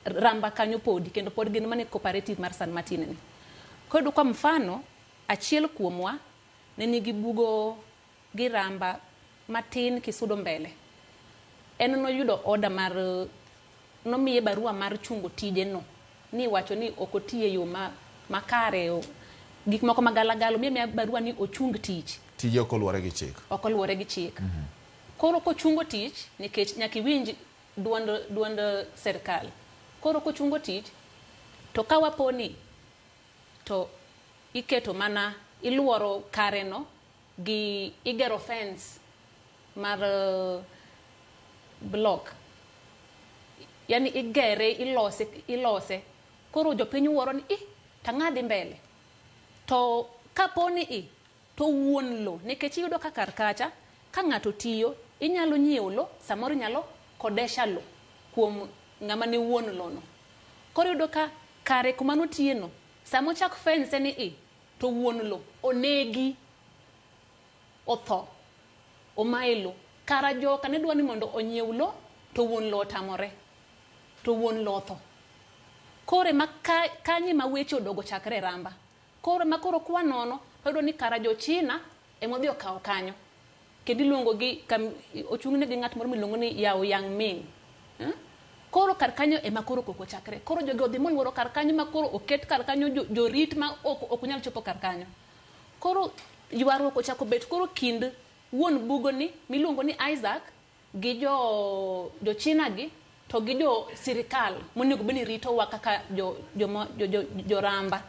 Ramba kanyo podi kendo pod gin mana e cooperative mar San Martin ni. Koro iyudo kwa mfano achiel kuomwa ne nigi bugo gi Ramba matin kisudo mbele. En noyudo order mar nomiye barua mar chungo tije no ni iwacho ni ok otiyo e yo makare gik moko ma gala gala omiye amiya barua ni ochung tich. Tije ok oluwore gi chik. Ok oluwore gi chik. Koro kochungo tich nikech nyaka iwinj duond duond sirkal. Koro kochungo tich to ka waponi to iketo mana iluoro kare no gi igero fence mar block yani igere ilose ilose koro jopiny wuoro ni ih to ang'o dhi mbele to kaponi i To wuon lo, nekech iyudo ka kar kacha, ka ng'ato tiyo, inyalo nyiewo lo, samoro inyalo kodesha lo kuom ng'ama ne wuon lo no. Koro iyudo ka kare kuma notiye no, sama ochak fence ni i, to wuon lo onegi, otho, omaye lo. Kara joka ne dwa ni mondo onyiew lo, to wuon lo otamore. To wuon lo otho. Koro ema ka, kanyo ema weche odogo chakre e ramba. Koro ema koro kwa nono wayudo ni kara jo China ema odhi okawo kanyo kendo iluongo gi kam, ochung' ne gi ng'at moro miluongo ni Yao Yang Ming. Eh? Koro kar kanyo ema koro koko chakre. Koro jogi odhi molworo kar kanyo ma koro oket kar kanyo jo- jorit ma ok ok nyal chopo kar kanyo. Koro ywaruok ochako bet koro kind wuon bugoni miluongo ni Isaac gi jo jo China gi to gi jo sirikal monego bed ni ritowa kaka jo jo mo- jo- jo- joramba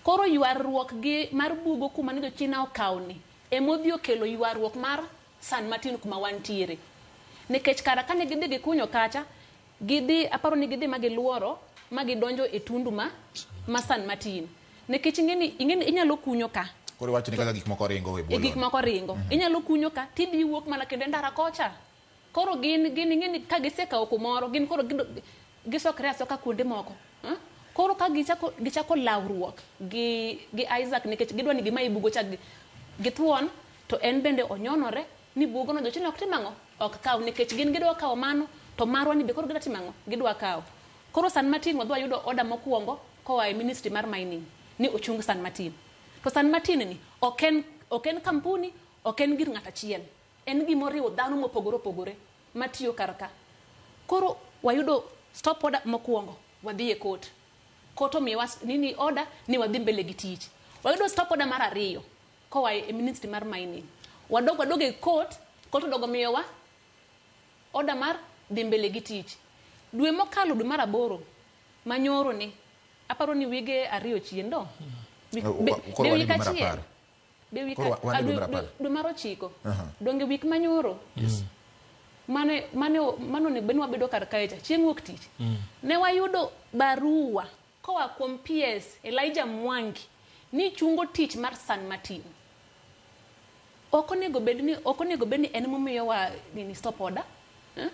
koro ywaruok gi mar bugo kuma ne jo China okawni emodhi okelo ywaruok mar San Martin kuma wantiere nikech kara kane gidhi gikunyo kacha Gidhi, aparo ni gidhi ma gilworo ma gidonjo e tundu ma ma San Martin. Nikech ing'eni, ing'eni inyalo kunyo ka. Koro iwacho ni kaka gik moko ringo e bwo lowo. E gik moko ringo. Mm -hmm. Inyalo kunyo ka, tidhi iwuok mana kendo e ndara kocha. Koro gin, gin ing'eni ka gisekawo kumoro, gin koro gido, gisokre asoka kuonde moko. Huh? Koro ka gichako, gichako lawruok gi, gi Isaac nikech gidwa ni gima ibugo cha githuon, to en bende onyonore ni bugono jochina ok tim ang'o? Ok kaw nikech gin gidwa kawo mano to marwa ni be koro gidwa timo ang'o? Gidwa kawo. Koro San Martin wadhi wayudo order mokuongo koa e ministry mar mining ni ochung San Martin. To San Martin ni ok en ok en kampuni, ok en gir ng'ato achiel. En gima oriwo dhano mopogore opogore matiyo kar ka. Koro wayudo stop order mokuongo wadhi e court. Court omiyowa nini order ni wadhi mbele gi tich. Wayudo stop order mar ariyo. Koa e ministry mar mining. Wadok wadog e court, court odogo miyowa order mar dhi mbele gi tich. Dwe mokalo dwe mar aboro ma nyoro ni, aparo ni wige ariyo chien do? Wik- Oh, be- koro be wan e wik dwe mar achiel? apar. Be wik Koro wa- wan e a- dwe mar dwe- apar. dwe mar ochiko. Aha. Donge wik ma nyoro? mane mane mane onego bed ni wabedo kar kae cha chieng' wuok tich ne wayudo barua Koa kuom PS, Elijah Mwangi ni chungo tich mar San Martin. Ok onego bed ni ok onego bed ni en momiyo wa nini stop order. Eh?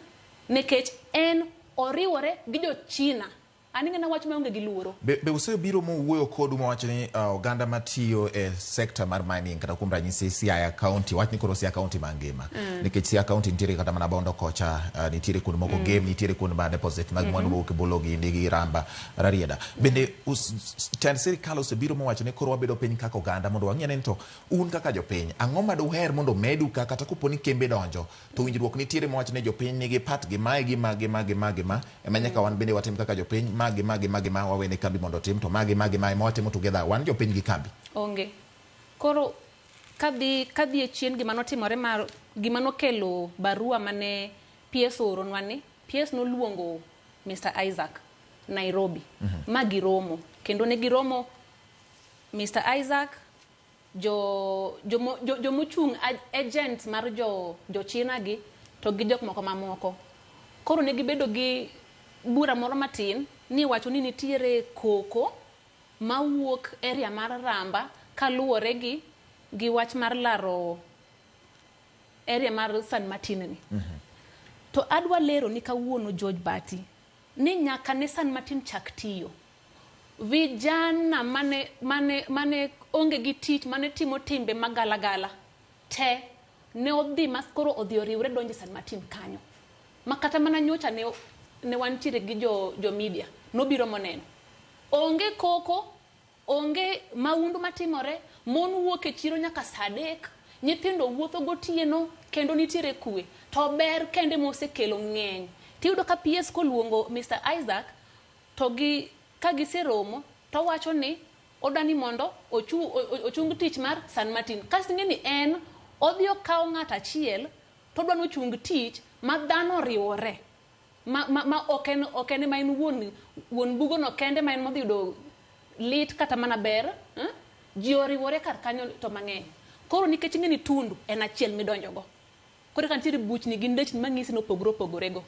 Nekech en oriwore gi jo China. An ing'ena wach maonge gi luoro. Be, be usebiro mowuoyo kodu mawacho ni uh, oganda matiyo e sekta mar mining kata kuom ranyisi Siaya County, wach ni koro Siaya County mangima mm. nikech Siaya County nitiere kata mana Bondo kocha uh, nitiere kuonde moko mm. Gem nitiere kuonde ma deposit mag mm-hmm. mwandu mowuok e Bolo gi Ndigi Ramba Rarieda bende tend sirikal osebiro mowacho ni koro wabedo piny kaka oganda mondo wang'e ni to un kaka jopiny ang'o ma duher mondo medu ka kata kopo ni kembe donjo to winjruok nitiere mowacho ni jopiny nigi pat gi mae gi ma gi ma gi ma gi ma ema nyaka wan bende watim kaka jopiny ma gi ma gi ma gi ma wawene kambi mondo otim to ma gi ma gi ma ema watimo together wan jopiny gi kambi onge koro Kadhi kadhi e chien gima notimore mar gima nokelo barua mane PS ooronwa ni PS noluongo Mister Isaac Nairobi ma giromo kendo ne giromo Mister Isaac jo jomo jo- jomochung' ag- agents mar jo jo China gi to gi jok moko mamoko koro ne gibedo gi bura moro matin ni wacho ni nitiere koko mawuok area mar Ramba kaluwore gi gi wach mar laro area mar San Martin ni. To adwa leroni kawuono George Bati ni nyaka ne San Martin chak tiyo, vijana mane mane mane onge gi tich mane timo timbe ma gala gala te ne odhi ma koro odhi oriwre donjo e San Martin kanyo. Ma kata mana nyocha ne ne wantiere gi jo jo media nobiro moneno. Onge koko, onge maundu matimore, mon wuok e chiro nyaka saa adek, nyithindo wuotho gotieno kendo nitiere kwe. To ber kende mosekelo ng'eny. Tiyudo ka PS koluongo Mister Isaac to gi ka giseromo towacho ni odwani mondo ochu ochung tich mar San Martin. Kasto ing'e ni en odhi okawo ng'ato achiel todwani ochung tich ma dhano oriwore. ma, ma, ma ok en ok en ma en wuon wuon bugono kende ma en modhi yudo lit kata mana ber eh? ji oriwore kar kanyo to mang'eny koro nikech ing'e ni tundu en achiel midonjogo koro ka nitiere buchni gi ndechni mang'isi nopogore opogorego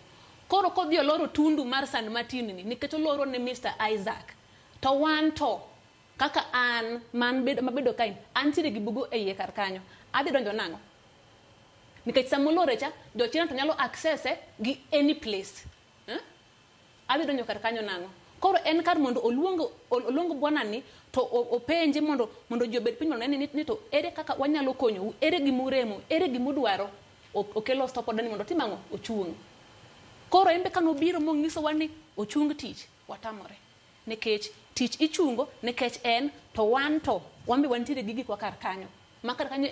koro kodhi oloro tundu mar san martin ni nikech oloro ne mr isaac to wan to Kaka an man bedo mabedo kae antiere gi bugo e iye kar kanyo adhi donjo nang'o? Nikech sama olore cha jo China to nyalo access e gi any place. Eeh, adhi donjo kar kanyo nang'o? Koro en kar mondo oluong oluong bwana ni to openje mondo mondo ji obed piny mondo one ni to ere kaka wanyalo konyou, ere gima uremo, ere gima udwaro. Okelo stop order ni mondo otim ang'o? Ochung'. Koro en be kane obiro monyisowa ni ochung tich, watamore. Nikech tich ichungo nikech en to wan to wan be wantiere gi gikwa kar kanyo. Ma kar kanyo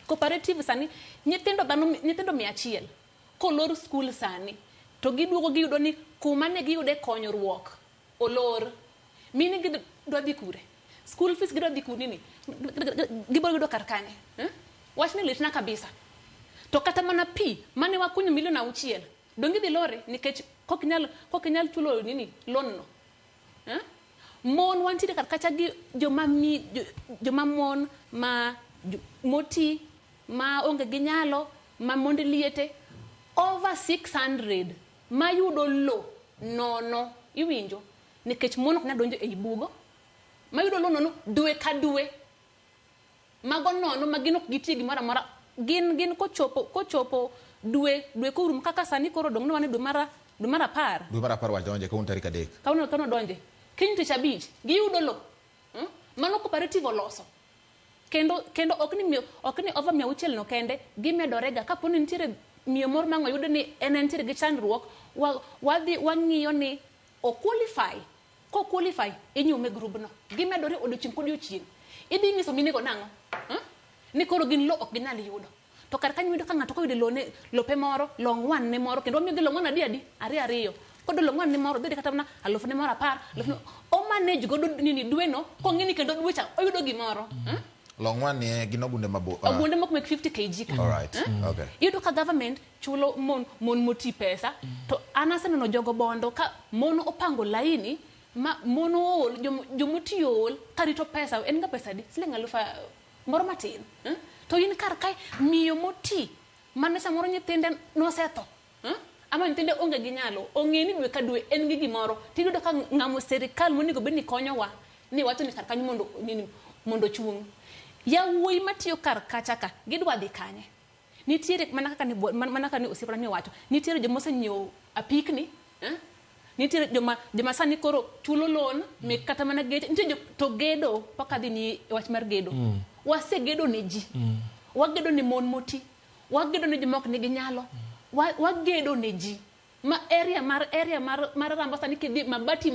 cooperative sani nyithindo dhano nyithindo mia achiel kolor skul sani to giduogo giyudo ni kuma ne giyude konyruok olor. Meaning gidwa dhi kure? Skul fees gidwa dhi kure ni gibiro yudo kar kanye? Wachni litna kabisa. To kata mana pi mane wakunyo milion auchiel Donge idhi lore nikech kok inyal kok inyal chulo nini loan no. Eh? Mon wantiere kar kacha gi joma mi jo- joma mon ma jo- moti ma onge gi nyalo ma mond liete over 600 mayudo lo nono iwinjo nikech mon ok nyal donjo ei bugo mayudo lo nono dwe ka dwe Mago nono ma gin ok gitie gimoro amora. Gin gin kochopo kochopo dwe dwe korum kaka sani koro odong' nwa ni dwe mar dwe mar apar. Dwe mar apar wadonje kawuono tarik adek. Kawuono kawuono odonje. Kiny tich abich giyudo lo. Umm mano cooperative oloso. Kendo kendo ok ni miyo ok ni over mia auchiel no kende gimedore ga kapo ni nitiere miyo moro mang'oyud ni en entiere gi chandruok wa wadhi wang'iyo ni o qualify Ko qualify inyume e group no. Gimedore odiochieng kodiochieng. Idhi nyiso mine go nang'o? Huh? Ni koro gin lo ok ginyal yudo. To kar kanyo wayudo ka ng'ato koyude lone, lope moro, long one ne moro kendo wamiyogi long one adi adi? Ariyo ariyo. Koyudo long one ne moro odhi kata mana aluf ne moro apar, aluf ne moro. O manage godo nini dwe no kong'e ni kendo dwe cha oyudo gimoro. Huh? Long one ni e gin ogunde mabo. Ogunde moko mek 50 kg ka. Alright. Huh? Okay. Iyudo ka government chulo mon mon moti pesa to an aseneno jogo bondo ka mon opango laini ma mon ool jom- jomoti ool karito pesa en ga pesa di siling alufu a- moro matin eh? to in kar kae miyo moti mane samoro nyithinde nosetho eh? ama nyithinde onge gi nyalo ong'e ni dwe ka dwe en gi gimoro tiyudo ka ng'amo serikal monego bed ni konyowa ni wacho ni kar kanyo mondo nini mondo ochung' yawuoyi matiyo kar kacha ka gidwa dhi kanye Nitiere mana kaka ni mana kaka ni osiepna ni owacho, nitiere joma osenyiewo apikni, eh? Nitiere joma joma sani koro chulo loan mek kata mana geche, nitie jo to gedo paka dhi ni e wach mar gedo. Mm. Wasegedo ne ji. Mm. Wagedo ne mon moti. Wagedo ne joma ok nigi nyalo. Mm. Wa, wagedo ne ji. Ma area mar area mar mar Rambasa ni kidhi mabati ma